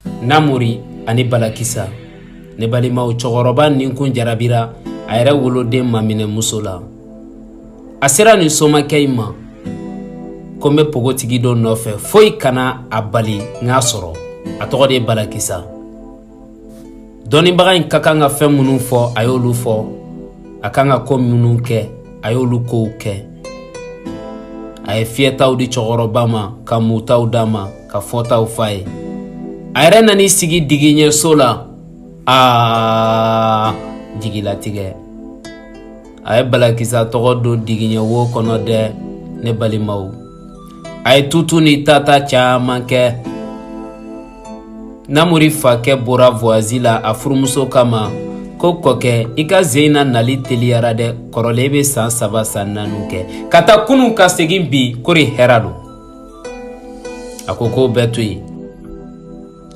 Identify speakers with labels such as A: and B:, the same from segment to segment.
A: namori ani balakisa ne balimaw cɛkɔrɔba nin kun jarabira a yɛrɛ woloden maminɛ muso la a sera nin somakɛ in ma ko n bɛ pogotigi dɔ nɔfɛ foyi kana a bali n k'a sɔrɔ a tɔgɔ de ye balakisa dɔnnibaga in ka kan ka fɛn minnu fɔ a y'olu fɔ a kan ka ko minnu kɛ a y'olu kow kɛ a ye fiyɛtaw di cɛkɔrɔba ma ka mutaw d'a ma ka fɔtaw f'a ye a yɛrɛ nan'i sigi digiɲɛso la aa jigilatigɛ a ye balakisa tɔgɔ don digiɲɛ wo kɔnɔ dɛ ne balimaw a ye tutu ni tata caman kɛ namori fakɛ bɔra voyasi la a furumuso k'a ma ko kɔkɛ i ka jinan nali teliyara dɛ kɔrɔlen bɛ san saba san naaniw kɛ ka taa kunun ka segin bi kori hɛra don a ko k'o bɛɛ to yen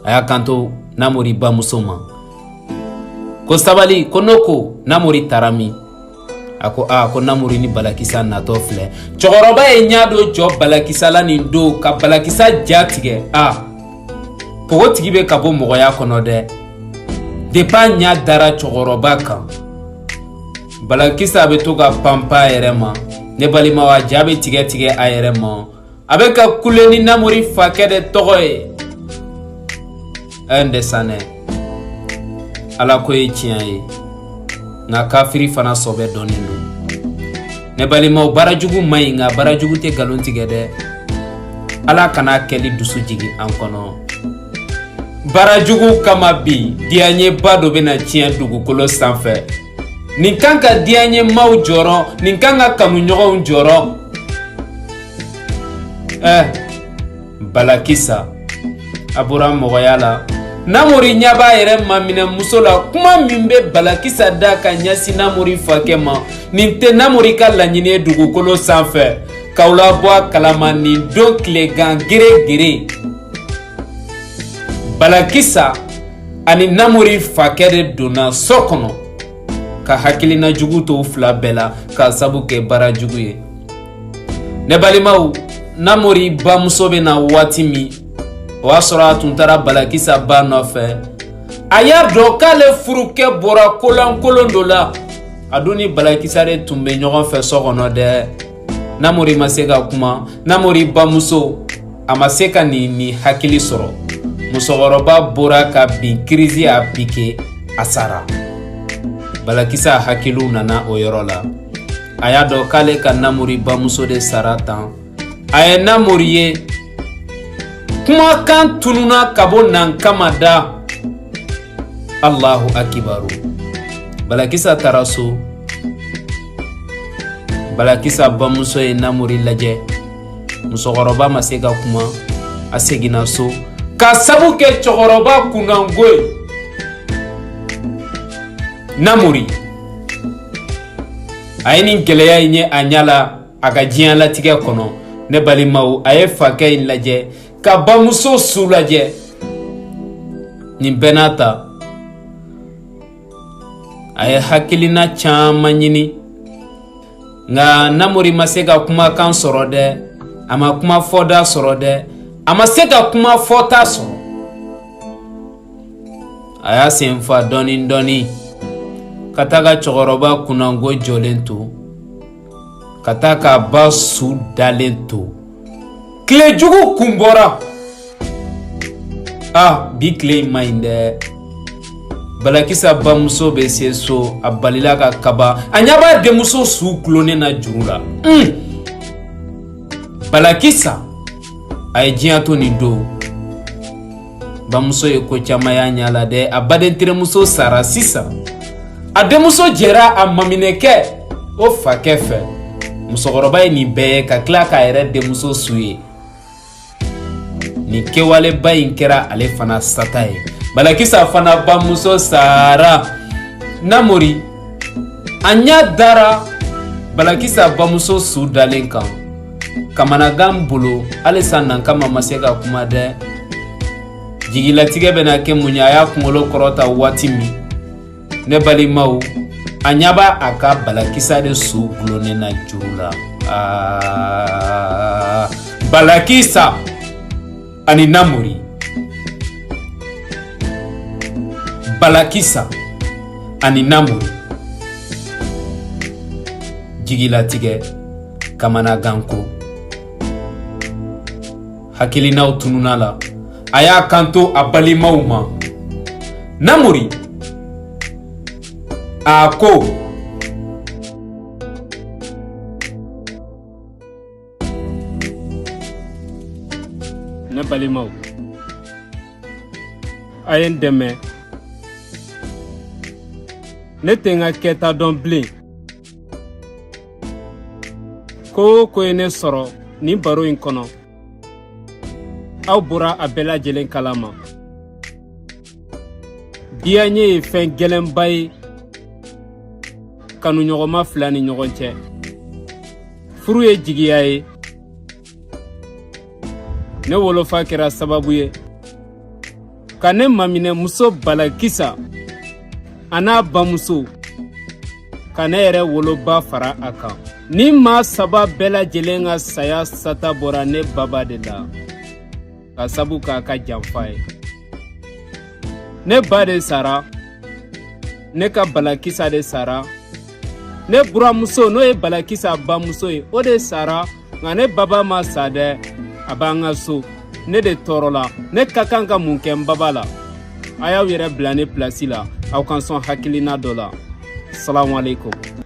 A: a y'a kanto namori bamuso ma ko sabali ko n'o ko namori taara min a ko aa ko namori ni balakisa natɔ filɛ cɛkɔrɔba ye ɲa dɔ jɔ balakisa la nin don ka balakisa ja tigɛ a pogotigi bɛ ka bɔ mɔgɔya kɔnɔ dɛ depi a ɲa dara cɛkɔrɔba kan balakisa bɛ to ka panpan a yɛrɛ ma ne balimaw a ja bɛ tigɛ tigɛ a yɛrɛ ma a bɛ ka kule ni namori fakɛ de tɔgɔ ye ɛn desanɛ ala ko ye tiɲɛ ye nka kafiri fana sɔbɛ dɔnnen don ne balimaw baara jugu man ɲi nka baara jugu tɛ nkalon tigɛ dɛ ala kana a kɛli dusu jigin an kɔnɔ baara jugu kama bi diyanyeba dɔ bɛna tiɲɛ dugukolo sanfɛ nin kan ka diyanyemaaw jɔrɔ nin kan ka kanuɲɔgɔnw jɔrɔ ɛ balakisa a bɔra mɔgɔya la namori ɲɛ b'a yɛrɛ maminɛ muso la kuma min bɛ balakisa da ka ɲɛsin namori fakɛ ma nin tɛ namori ka laɲini ye dugukolo sanfɛ k'aw labɔ a kalama nin don tilegan gere gere balakisa ani namori fakɛ de donna so kɔnɔ ka hakilina jugu t'u fila bɛɛ la k'a sabu kɛ baara jugu ye ne balimaw namori bamuso bɛ na waati min o y'a sɔrɔ a tun taara balakisa ba nɔfɛ a y'a dɔn k'ale furukɛ bɔra kolankolon dɔ la a dun ni balakisa de tun bɛ ɲɔgɔn fɛ so kɔnɔ dɛ namori ma se ka kuma namori bamuso a ma se ka nin ni hakili sɔrɔ musokɔrɔba bɔra ka bin kirizi y'a pike a sara balakisa hakiliw nana o yɔrɔ la a y'a dɔn k'ale ka namori bamuso de sara tan a ye namori ye kumakan tununa ka bɔ nankama da allahu akibaru balakisa taara so balakisa bamuso ye namori lajɛ musokɔrɔba ma se ka kuma a seginna so ka sabu kɛ cɛkɔrɔba kunnango ye namori a ye nin gɛlɛya in ye a ɲa la a ka diɲɛ latigɛ kɔnɔ ne balimaw a ye fakɛ in lajɛ ka bamuso su lajɛ nin bɛɛ n'a ta a ye hakilina caman ɲini nka namori ma se ka kumakan sɔrɔ dɛ a ma kuma fɔta sɔrɔ dɛ a ma se ka kuma fɔta sɔrɔ a y'a sen fa dɔɔnin dɔɔnin ka taa ka cɛkɔrɔba kunnango jɔlen to ka taa k'a ba su dalen to tile jugu kun bɔra a bi tile in man ɲi dɛ balakisa bamuso bɛ se so a balila ka kaba a ɲa b'a denmuso su gulonnen na juru la un balakisa a ye diɲɛ to nin don bamuso ye ko caman y'a ɲa la dɛ a baden terimuso sara sisan a denmuso jɛra a maminɛkɛ o fakɛ fɛ musokɔrɔba ye nin bɛɛ ye ka tila k'a yɛrɛ denmuso su ye nin kɛwaleba in kɛra ale fana sata ye balakisa fana bamuso sara namori a ɲa dara balakisa bamuso su dalen kan kamanagan bolo halisa nankama ma se ka kuma dɛ jigilatigɛ bɛna kɛ mun ye a y'a kunkolo kɔrɔta waati min ne balimaw a ɲa b'a a ka balakisa de su gulonnen na juru la balakisa ani namori balakisa ani namori jigilatigɛ kamanaganko hakilinaw tununa la a y'a kanto a balimaw ma namori a ko
B: ne balimaw a ye n dɛmɛ ne tɛ n ka kɛta dɔn bilen ko o ko ye ne sɔrɔ nin baro in kɔnɔ aw bɔra a bɛɛ lajɛlen kala ma diyaɲe ye fɛn gɛlɛnba ye kanuɲɔgɔnma fila ni ɲɔgɔn cɛ furu ye jigiya ye ne wolofa kɛra sababu ye ka ne maminɛmuso balakisa a n'a bamuso ka ne yɛrɛ woloba fara a kan nin maa saba bɛɛ lajɛlen ka saya sata bɔra ne baba de la ka sabu k'a ka janfa ye ne ba de sara ne ka balakisa de sara ne buramuso n'o ye balakisa bamuso ye o de sara nka ne baba ma sa dɛ a b'an ka so ne de tɔɔrɔla ne ka kan ka mun kɛ n baba la a y'aw yɛrɛ bila ne pilasi la aw ka n sɔn hakilina dɔ la salamu aleykum